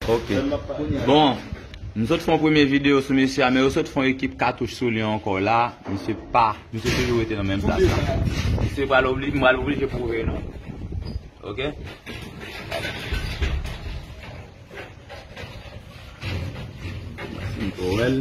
Ok. Bon, m sot fon premye video sou mesye a, men yo sot fon ekip katouch sou li ankò la, misye pa, misye toujou rete nan menm plas la. Misye pral obli, m pral oblije pwouve nou. Ok. Mwen si m ko wèl.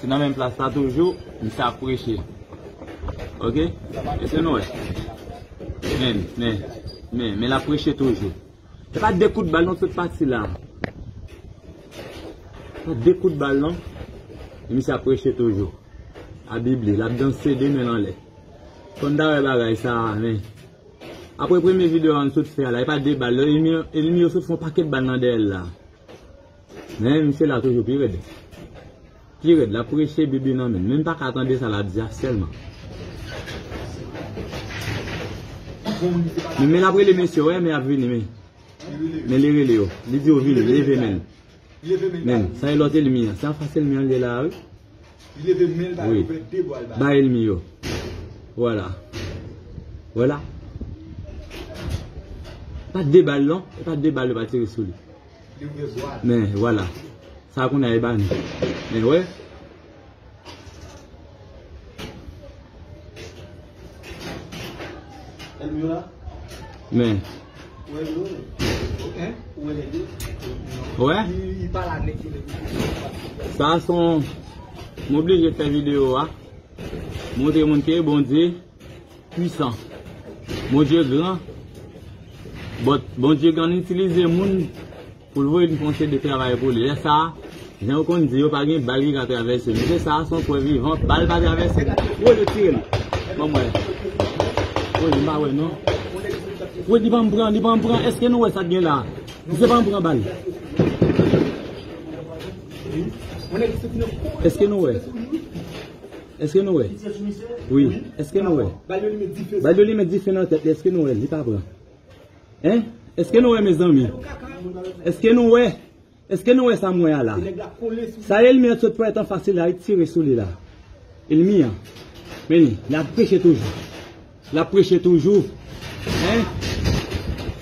Se nan menm plas la toujou misye ap preche ok eske'n wè men men men men lap preche toujou se pa 2 kout bal non tout pati la se pa 2 kout bal non misye ap preche toujou a bib li lap danse 2 men'l anlè konn ta wè bagay sa men apre premye video an tout fè la e pa 2 bal non enmi yo sot fon paket bal nan dèyè'l la. Men misye la toujou pi red. Pi red lap preche bible nan men. Menm paka tande sa lap di a selman. Men men lap rele mesye wè men ap vini men. Men li rele yo. Li di yo vini leve men. Men sa e lot elmi an. Se an fas elmi an li la wi. Wi. Ba elmi yo. Wala. Wala. Pat de bal non. Pat de bal yo pa tire sou li. Men wala Sa kounye a e ba nou Men wè Men Wè Sa son M oblije fè video a Montre moun ke bon di pwisan Bondye gran but Bondye gan itilize moun poul voye nou fè yon seri de travay pou li lè sa jan yo konn di yo pa gen bal ki ka travèse nou se sa a son prèv vivan bal pa travèse nou woy yo tire l banm wè woy m pa wè non woy li pa m pran li pa m pran eske nou wè sa k gen la misye pa m pran bal eske nou wè. Eske nou wè wi eske nou wè bay li met dife nan tèt li eske nou wè li pa pran hein eske nou wè mezanmi eske nou wè eske nou wè sa m wè a la sa elmi an t sot pran etan fasil la li tire sou li la elmi an men li lap preche toujou lap preche toujou hein.